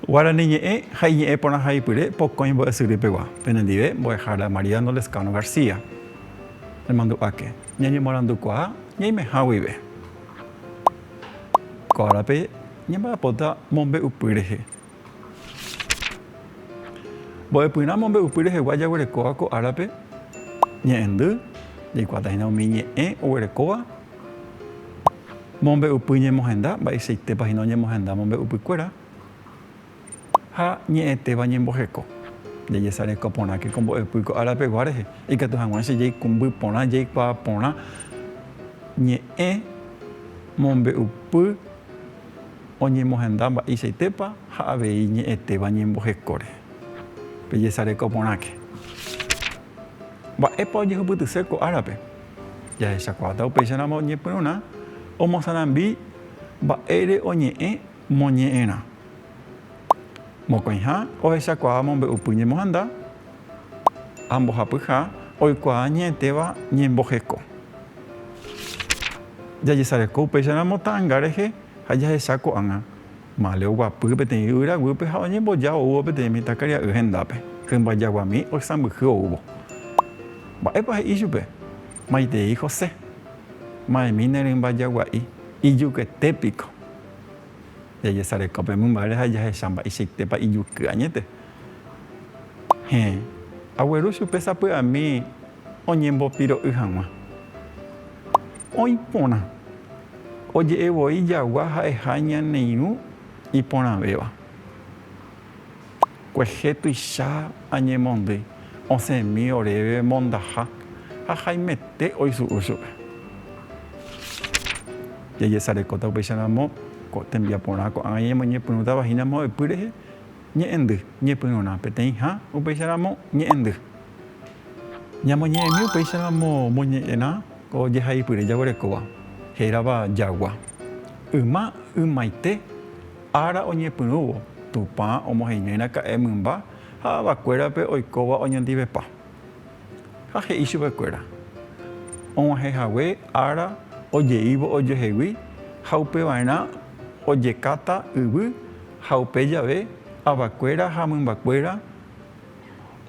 Guarani ñe'ẽ ha iñe'ẽ porãhaipyre pokõi mbo'esyrýpegua. Penendive, mbo'ehára Mariano Lezcano García. Nemandu'áke, ñañemorandukuaa ñaimeha guive. Ko árape. Ñamba'apóta mombe'upy rehe. Mbo'epyrã mombe'upy rehegua jaguerekóva ko árape ñe'ẽndy, jaikuaáta hína umi ñe'ẽ oguerekóva mombe'upy ñemohenda, mba'eichaitépa hína oñemohenda mombe'upykuéra. ha ñe'ẽtéva ñemboheko. Jajesareko porãke ko mbo'epy ko ára pegua rehe, ikatu hag̃ua che jaikumby porã, jaikuaa porã ñe'ẽ mombe'upy oñemohenda mba'eichaitépa ha avei ñe'ẽtéva ñemboheko rehe. Pejesareko porãke. Mba'épa ojehupytyse ko árape? Jahechakuaáta upéicharamo oñepyrũrã omosarambi mba'ére oñe'ẽ Moñe'ẽrã. Mokõiha ohechakuaa mombe'upy ñemohanda ha mbohapyha oikuaa ñe'ẽtéva ñemboheko. Jajesareko upéicharamo ta'anga rehe ha jahecha ko'ág̃a. Mále oguapy peteĩ yvyra guýpe ha oñemboja oúvo peteĩ mitãkaria'y hendápe. Hymba jaguami oisãmbyhy oúvo. Mba'épa he'i chupe? Maitei José. Ma'ẽmi ne rymba jagua'i. Ijukete piko. Jajesareko pe mymbáre ha jahecha mba'eichaitépa ijuky añete. Héẽ, agueru chupe sapy'ami oñembopiro'y hag̃ua. Oĩ porã, oje'e voi jagua ha'eha ñane irũ iporãvéva. Kuehe tuicha añemondy osẽmi oréve mondaha ha haimete oisu'u chupe. Jajesarekóta upéicharamo ko tembiaporã ko'ágã ñañemoñepyrũtava hína mbo'epy rehe ñe'ẽndy ñepyrũrã peteĩha upéicharamo ñe'ẽndy. Ñamoñe'ẽmi upéicharamo moñe'ẽrã ko jehaipyre jaguerekóva hérava jagua. Yma ymaite. Ára oñepyrũvo, Tupã omoheñoiraka'e mymba ha avakuérape oikóva oñondivepa. Ha he'i chupekuéra, Og̃uahẽ hague ára ojeívo ojoehegui ha upeva'erã ojekáta yvy ha upe jave avakuéra ha mymbakuéra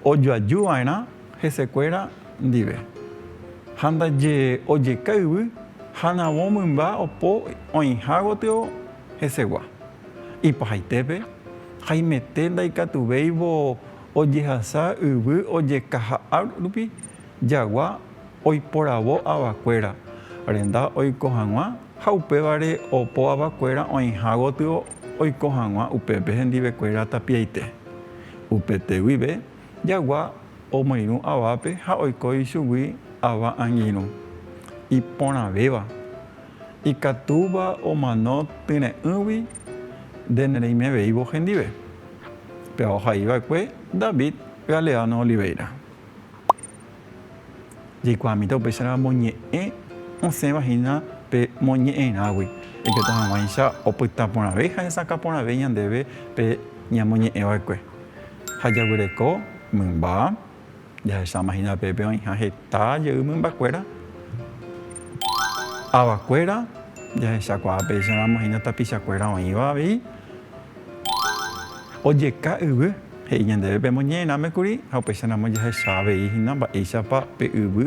ojoaju va'erã hesekuéra ndive, ha ndaje ojeka yvy ha navo mymba opo oĩha gotyo hesegua. Ipahaitépe, haimete ndaikatuvéivo ojehasa yvy ojekaha rupi jagua oiporavo avakuéra renda oiko hag̃ua Ha upévare opo avakuéra oĩha gotyo oiko hag̃ua upépe hendivekuéra tapiaite. Upete guive jagua omoirũ avápe ha oiko ichugui ava angirũ. Iporãvéva, ikatúva omano tyre'ỹgui nde nereimeveívo hendive. Pe ohai va'ekue David Galeano Oliveira. Jaikuaamíta upéicharamo ñe'ẽ osẽva hína pe moñe'ẽrãgui, jaikatu hag̃uáicha opyta porãve ha hesakã porãve ñandéve pe ñamoñe'ẽ va'ekue. Ha jaguyréko mymba, jahecháma hína pépe oĩha heta jey mymbakuéra, avakuéra, jahechakuaa péicharamo hína tapichakuéra oĩva avei ojeka yvy. He'i ñandéve pemoñe'ẽrãme kuri ha upéicharamo jahecha avei hína mba'éichapa pe yvy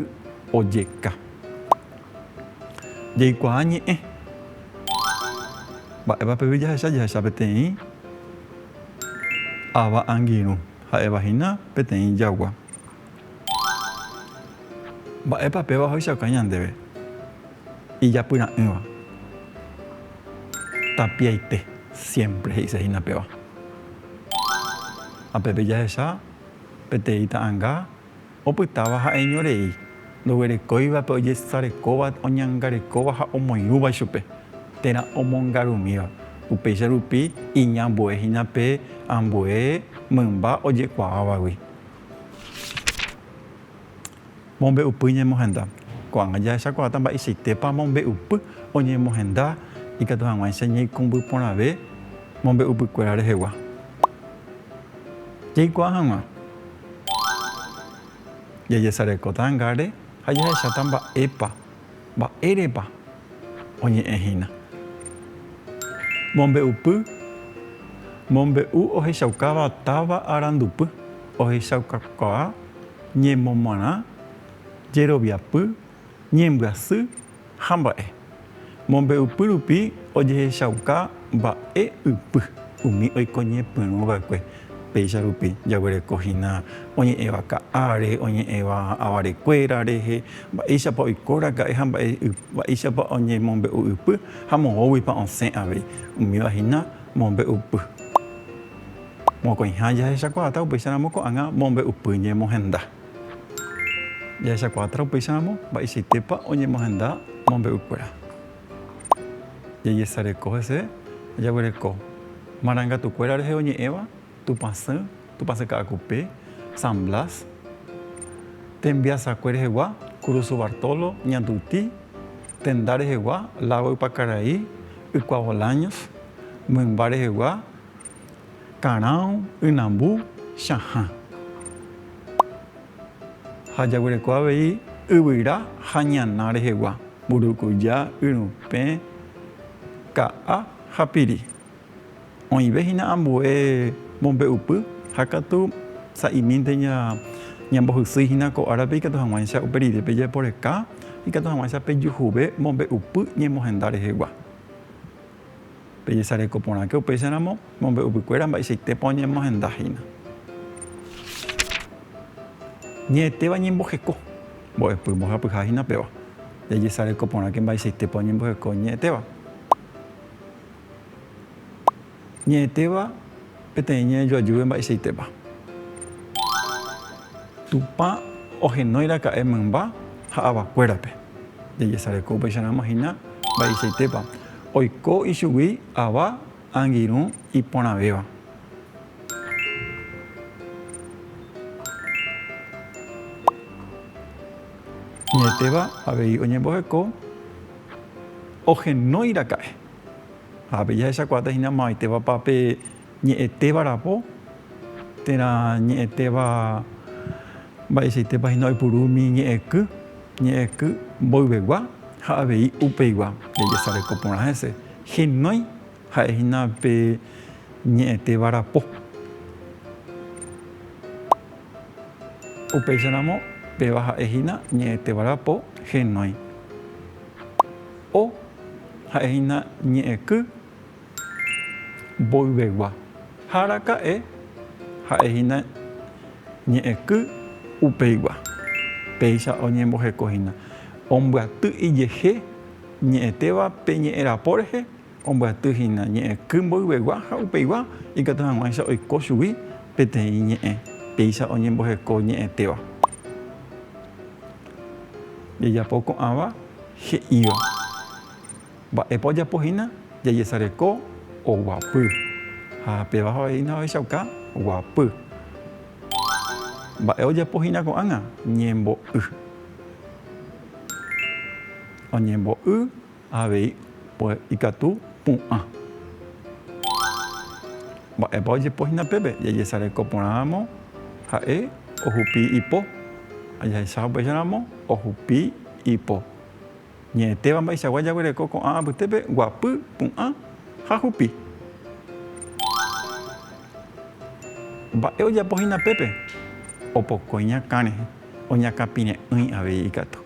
ojeka. Jaikuaa ñe'ẽ. Mba'épa pe yvy jahecha? Jahecha peteĩ ava angirũ, ha'éva hína peteĩ jagua. Mba'épa péva ohechauka ñandéve ijapyra'ỹva? Tapiaite, siémpre he'ise hína péva. Ha pépe jahecha peteĩ ta'anga opytáva ha'eñorei, ndoguerekóivape ojesarekóva, oñangarekóva ha omoirũva ichupe, térã omongarumíva. Upéicha rupi iñambue hína pe ambue mymba ojekuaávagui. Mombe'upy ñemohenda. Ko'ág̃a jahechakuaáta mba'eichaitépa mombe'upy oñemohenda ikatu hag̃uáicha ñaikũmby porãve mombe'upykuéra rehegua. Jaikuaa hag̃ua, jajesarekóta angáre ha jahecháta mba'épa Mba'érepa oñe'ẽ hína? Mombe'upy Mombe'u ohechaukáva táva arandupy, ohechaukakuaa, ñemomarã, jeroviapy, ñembyasy ha mba'e. Mombe'upy rupi ojehechauka mba'e ypy umi oiko ñepyrũ va'ekue. Péicha rupi jaguereko hína oñe'ẽva ka'áre, oñe'ẽva avarekuéra rehe, mba'éichapa oiko raka'e ha mba'éichapa oñemombe'u ypy ha moõguipa osẽ avei. Umíva hína mombe'upy. Mokõiha jahechakuaáta upéicharamo ko'ág̃a mombe'upy ñemohenda. Jahechakuaáta upéicharamo mba'eichaitépa oñemohenda mombe'ukuéra. Jajesareko hese, jaguereko marangatukuéra rehe oñe'ẽva, Tupãsy, Tupãsy Ka'akupe, San Blas, Tembiasakue rehegua, Kurusu Bartolo, Ñanduti, Tenda rehegua, Lago Ypakaraí, Ykua Bolaños, Mymba rehegua, Karão, ynambu, chahã. Ha jaguereko avei yvyra ha ñana rehegua, mburukuja, yrupẽ, ka'a ha piri. Oĩve hína ambue mombe'upy ha katu sa'imínte ñambohysýi hína ko árape ikatu hag̃uáicha upe rire pejeporeka, ikatu hag̃uáicha pejuhuve mombe'upy ñemohenda rehegua. Pejesareko porãke upéicharamo mombe'upukuéra mba'eichaitépa oñemohenda hína. Ñe'ẽtéva ñemboheko. Mbo'epy mbohapyha hína péva. Jajesareko porãke mba'eichaitépa oñemboheko ñe'ẽtéva. Ñe'ẽtéva. Peteĩ ñe'ẽ joajúve mba'eichaitépa. Tupã ohenóiraka'e mymba ha avakuérape. Jajesareko upéicharamo hína mba'eichaitépa oiko ichugui ava angirũ iporãvéva. Ñe'ẽtéva avei oñemboheko ohenóiraka'e. Ha pe jahechakuaáta hína mavaitévapa pe ñe'ẽtéva rapo, térã ñe'ẽtéva mba'eichaitépa hína oipuru umi ñe'ẽky, ñe'ẽky mboyvegua ha avei upeigua jajesareko porã hese. Henói ha'e hína pe ñe'ẽtéva rapo. Upéicharamo, péva ha'e hína ñe'ẽtéva rapo Henói. O ha'e hína ñe'ẽky mboyvegua, ha araka'e ha'e hína ñe'ẽky upeigua. Péicha oñemboheko hína ombyaty ijehe ñe'ẽtéva pe ñe'ẽrapo rehe. Ombyaty hína ñe'ẽky mboyvegua ha upeigua ikatu hag̃uáicha oiko chugui peteĩ ñe'ẽ péicha oñemboheko ñe'ẽtéva. Jajapo ko'ãva he'íva. Mba'épa ojapo hína jajesareko oguapy ha péva avei hína ohechauka guapy. Mba'e ojapo hína ko'ág̃a? Ñembo'y. Oñembo'y Avei ikatu pu'ã. Mba'épa ojepo hína pépe? Jajesareko porãramo, ha'e ohupi ipo, ha jahecha upéicharamo, ohupi ipo. Ñe'ẽtéva mba'eichagua jaguereko ko'ã apytépe, guapy, pu'ã ha hupi. Mba'e ojapo hína pépe? Opoko iñakã rehe, oñakãpire'ỹi avei ikatu.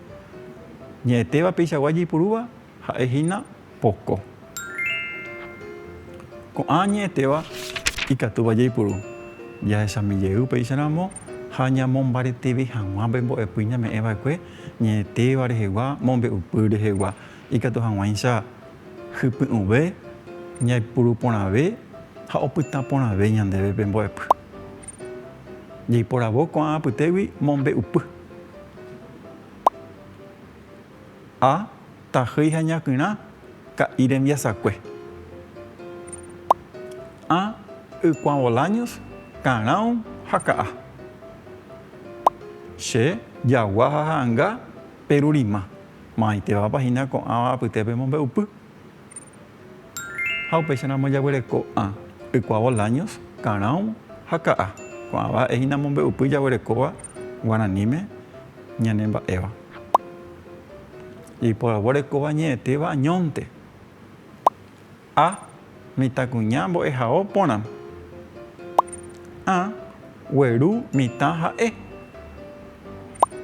Ñe'ẽtéva peichagua jeipurúva ha'e hína poko. Ko'ã ñe'ẽtéva ikatúva jaipuru, jahechami jey upéicha ramo ha ñamombareteve hag̃ua pe mbo'epy ñame'ẽ va'ekue ñe'ẽtéva rehegua, mombe'upy rehegua. Ikatu hag̃uáicha hypy'ũve, ñaipuru porãve ha opyta porãve ñandéve pe mbo'epy. Jeiporavo ko'ã apytégui mombe'upy. A tahýi ha ñakyrã ka'i rembiasakue. A ykuã Bolaños karão ha ka'a. Che jagua ha ha'anga perurima. Maitevapa hína ko'ãva apytépe mombe'upy. Ha upéicharamo jaguereko'ã ykuaa Bolaños, Karão ha Ka'a. Ko'ãva a'e hína mombe'upy jaguerekóva guaraníme ñane mba'éva. Jaiporavo rekóva ñe'ẽtéva añónte. A, Mitãkuña mbo'ehao porã. A, Gueru mitã ha'e.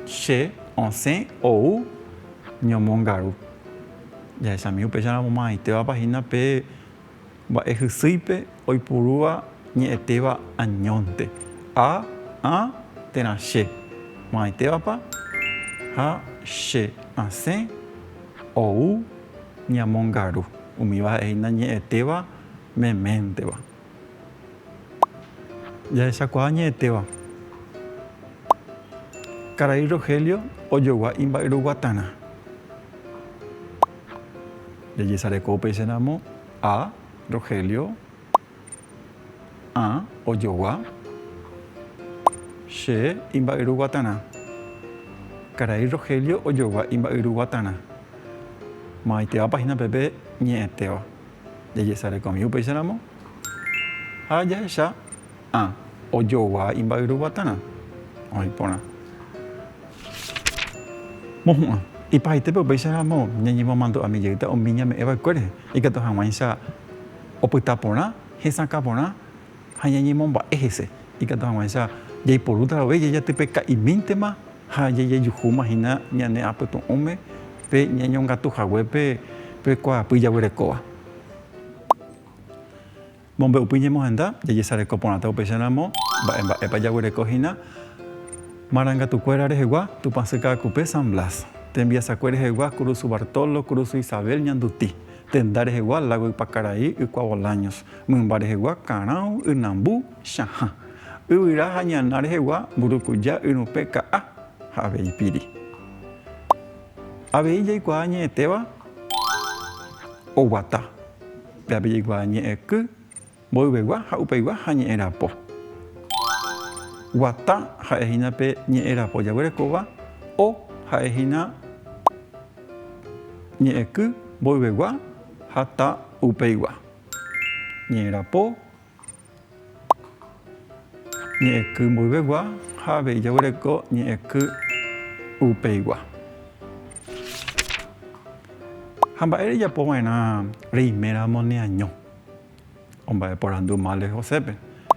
Che, osẽ, ou, ñomongaru. Jahechami upéicharamo maymáitévapa hína pe mba'e hysýipe oipurúva ñe'ẽtéva añónte, a, ã térã che, maymáitévapa, ha che, asẽ, ou, ñamongaru. Umíva ha'ehína ñe'ẽtéva meménteva. Jahechakuaa ñe'ẽtéva. Karai Rogelio ojogua imba'yruguatarã. Jajesareko upéicharamo A. Rogelio ã ojogua che imba'yruguatarã. Karai Rogelio ojogua imba'yruguatarã. Mo'ãitéva páhina pepe ñe'ẽtéva. Jajesarekomi upéicharamo ha jahecha ã ojogua imba'yru guatarã oĩ porã. Mohu'ã. Ipahaite upéicharamo ñañemomandu'ami jeýta umi ñame'ẽva'ekue rehe, ikatu hag̃uáicha opyta porã, hesakã porã ha ñañemomba'e hese, ikatu hag̃uáicha jaiporúta vove jajatypeka'imíntema ha jajejuhúma hína ñane apytu'ũme pe ñañongatu haguépe pe kuaapy jaguerekóva. Mombe'upy ñemohenda, jajesareko porãta upéicharamo mba'e mba'épa jaguereko hína marangatukuéra rehegua Tupãsy Ka'akupe San Blas, tembiasakue rehegua Kurusu Bartolo, Kurusu Isabel, Ñanduti, tenda rehegua Lago Ypakarai, Ykua Bolaños, Mymba rehegua karão ynambu chahã, yvyra ha ñana rehegua mburukuja yrũpe ka'a ha avei piri. Avei jaikuaa ñe'ẽtéva oguata, pyape jaikuaa ñe'ẽky, mboyvegua ha upeigua ha ñe'ẽrapo. Guata ha'e hína pe ñe'ẽrapo jaguerekóva, o ha'e hína ñe'ẽky, mboyvegua ha ta upeigua. ñe'ẽrapo, ñe'ẽky mboyvegua ha avei jaguereko ñe'ẽky upeigua. Ha mba'e rejapo va'erã reiméramo neaño? omba'eporandu Male Josépe.